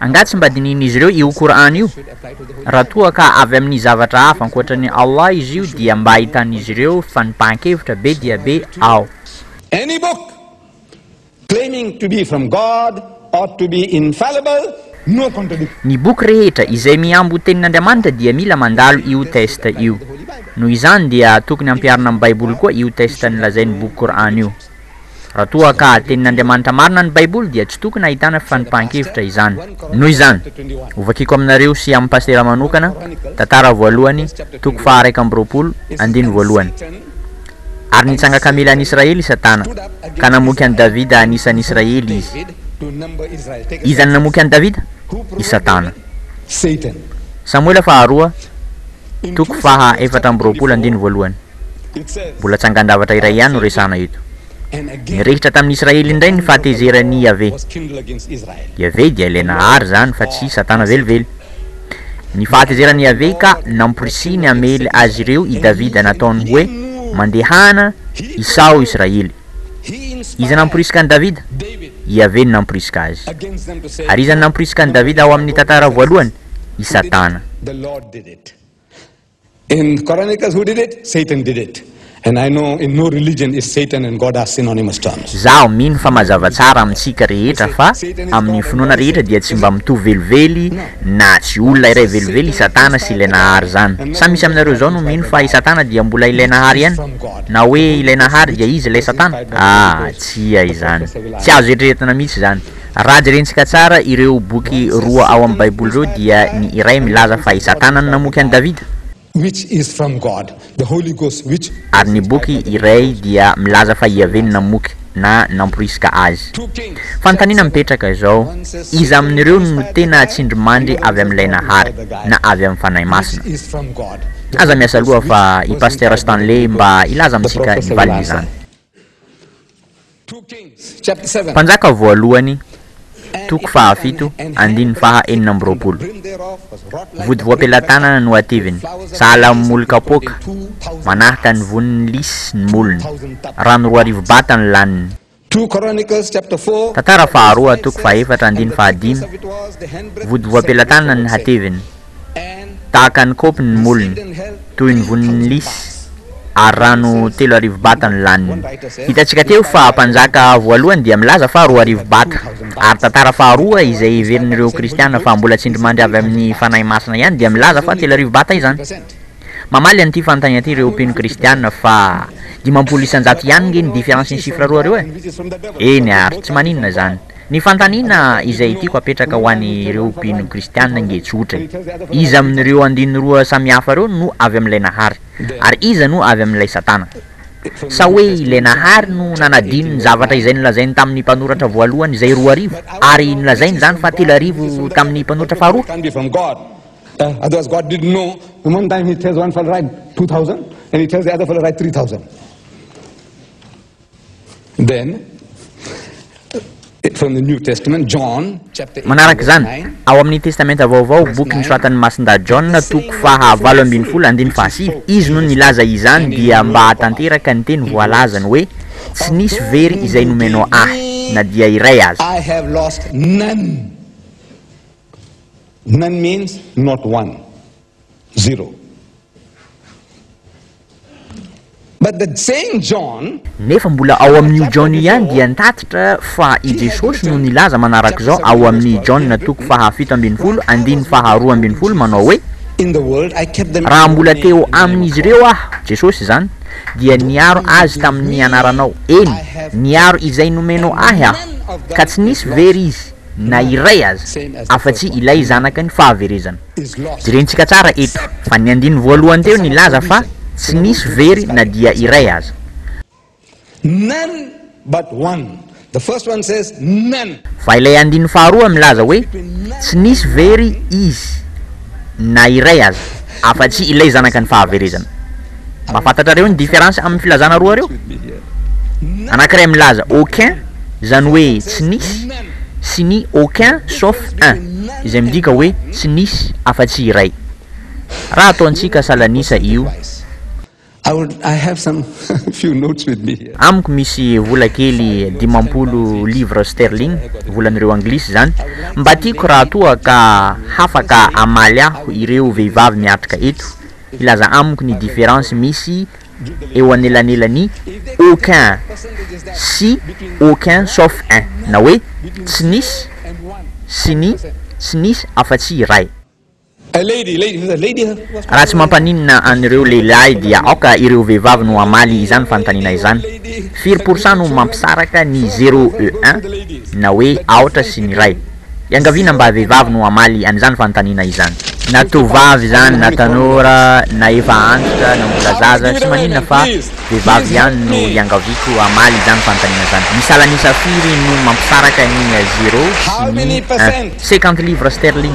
Angaha tsy mba dinihin'izy ireo io Qur'an io? Raha toa ka avy amin'ny zavatra hafa ankoatran'i Allah izy io dia mba ahitan'izy ireo fanipahan-kevitra be dia be ao. Any book claiming to be from God ought to be infallible, no contradiction. Ny boky rehetra izay mihambo ho tenin'Andriamanitra dia mila mandalo io test io. Noho izany dia tokony ampiharina amin'ny Baiboly koa io test nolazain'ny boky Qur'an io. Raha toa ka Tenin'Andriamanitra marina ny Baiboly dia tsy tokony hahitana fifanipahan-kevitra izany. Noho izany, hovakiko aminareo sy amin'ny pasitera manokana Tantara voalohany toko faha iraika amby roapolo, andininy voalohany. Ary nitsanga kamely any Israely i Satana, ka namoky an'i Davida anisan'ny Israely izy. Iza no namoky an'i Davida? I Satana. Samoela faharoa, toko faha efatra amby roapolo, andininy voalohany. Mbola tsangan-javatra iray ihany no resahana eto. Nirehitra tamin'i Israely indray ny fahatezeran'i Iaveh. Iaveh dia ilay nahary izany fa tsy Satana velively. Ny fahatezeran'i Iaveh ka namporisiny hamely azy ireo i Davida nataony hoe, Mandehana, isaho Israely. Iza namporisika an'i Davida? Iaveh no namporisika azy. Ary iza no namporisika an'i Davida ao amin'ny tantara voalohany? I Satana. In the Koran it says who did it? Satan did it. And I know in no religion is Satan and God are synonymous terms. Izaho mino fa mazava tsara amintsika rehetra fa amin'ny finoana rehetra dia tsy mba mitovy velively na tsy olona iray velively i Satana sy ilay Nahary izany. Sa misy aminareo izao no mino fa i Satana dia mbola ilay Nahary ihany? Na hoe ilay Nahary dia izy ilay Satana? Ah, tsia izany. Tsy azo eritreretina mihitsy izany. Raha jerentsika tsara ireo boky roa ao amin'ny Baiboly ireo, dia ny iray milaza fa i Satana no namoky an'i Davida, which is from God, the Holy Ghost which ary ny boky iray dia milaza fa Iaveh no namoky na namporisika azy. Fanontaniana mipetraka izao, Iza amin'ireo no tena tsindrimandry avy amin'ilay Nahary, na avy amin'ny Fanahy Masina? Aza miasa loha fa i Pasitera Stanley mba hilaza amintsika ny valin'izany. Mpanjaka voalohany, toko fahafito, andininy faha enina amby roapolo. Vody voam-pelatanana no ativiny, sahala amin'ny moly kapoaka, manahaka ny vonin'ny lisy ny molony. Rano roa arivo bata no laniny. Tantara faharoa, toko fahefatra, andininy fahadimy, Vody voam-pelatanana ny hativiny. Tahaka ny kaopy ny molony, toy ny vonin'ny lisy, ary rano telo arivo bata no laniny. Hitantsika teo fa mpanjaka voalohany dia milaza fa roa arivo bata, ary tantara faharoa izay heverin'ireo kristiana fa mbola tsindrimandry avy amin'ny Fanahy Masina ihany dia milaza fa telo arivo bata izany. Mamaly an'ity fanontaniana ity ireo mpino kristiana fa dimampolo isan-jato ihany nge ny difference ny chiffre roa arivo e! Eny ary tsy maninona izany. Ny fanontaniana izay tiako hapetraka ho an'ireo mpino kristiana nge tsotra e. Iza amin'ireo andininy roa samihafa ireo no avy amin'ilay Nahary? Ary iza no avy amin'ilay Satana? Sa hoe ilay Nahary no nanadino ny zavatra izay nolazainy tamin'ny mpanoratra voalohany izay roa arivo, ary nolazainy izany fa telo arivo tamin'ny mpanoratra faharoa? Manaraka izany, ao amin'ny Testamenta Vaovao, boky nosoratan'ny Masindahy Jaona, toko faha valo ambin'ny folo, andininy faha sivy, izy no nilaza izany dia mba hahatanteraka ny teny voalazany hoe, Tsy nisy very izay nomena Ahy, na dia iray aza. Zero. But the same John. Nefa mbola ao amin' io John io ihany dia nitatitra fa i Jesosy no nilaza manaraka izao ao amin' ny Jaona toko fahafito ambin'ny folo andininy faharoa ambin'ny folo manao hoe, Raha mbola teo amin' izy ireo Aho, Jesosy izany, dia niaro azy tamin' ny anaranao, eny, niaro izay nomenao Ahy Aho, ka tsy nisy very izy na iray aza, afa-tsy ilay Zanaky ny fahaverezana. Jerentsika tsara eto fa ny andininy voalohany teo nilaza fa tsy nisy very na dia iray aza. Fa ilay andininy faharoa milaza hoe tsy nisy very izy na iray aza afa-tsy ilay zanaka ny fahaverezana. Mba fantatrareo ny différence amin'ny filazana roa reo? Anankiray milaza aucun, izany hoe tsy nisy, sy ny aucun sauf un, izay midika hoe tsy nisy afa-tsy iray. Raha ataontsika salan'isa io. Amiko misy vola kely dimampolo livres sterling, volan'ireo Anglisy izany, mba tiako raha toa ka hafaka hamaly ahy ireo vehivavy miatrika eto, hilaza amiko ny différence misy eo anelanelan'i aucun sy aucun sauf un na hoe tsy nisy sy ny tsy nisy afa-tsy iray. Raha tsy mampaninona an'ireo lehilahy dia aoka ireo vehivavy no hamaly izany fanontaniana izany, Firy pourcent no mampisaraka ny zéro et un na hoe aotra sy ny iray? Iangaviana mba vehivavy no hamaly an'izany fanontaniana izany. Na tovovavy izany na tanora na efa antitra na mbola zaza tsy maninona fa vehivavy ihany no iangaviako hamaly izany fanontaniana izany. Ny salan'isa firy no mampisaraka ny zero sy ny un? Cinquante livres sterling.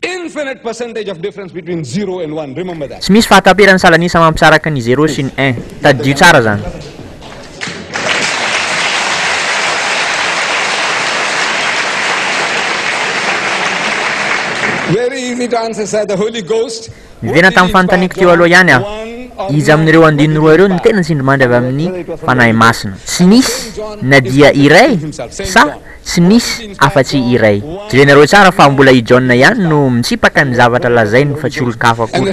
Infinite percentage of difference between zero and one, remember that. Tsy misy fahataperan'ny salan'isa mampisaraka ny zéro sy ny un. Tadidio tsara izany. Very easy to answer, sir. The Holy Ghost. Niverina tamin'ny fanontaniako teo aloha ihany aho. Iza amin'ireo andininy roa ireo no tena tsindrimandry avy amin'ny Fanahy Masina? Tsy nisy na dia iray sa Tsy nisy afa-tsy iray. Jerenareo tsara fa mbola i John ihany no mitsipaka ny zavatra lazainy fa tsy olon-kafa akory.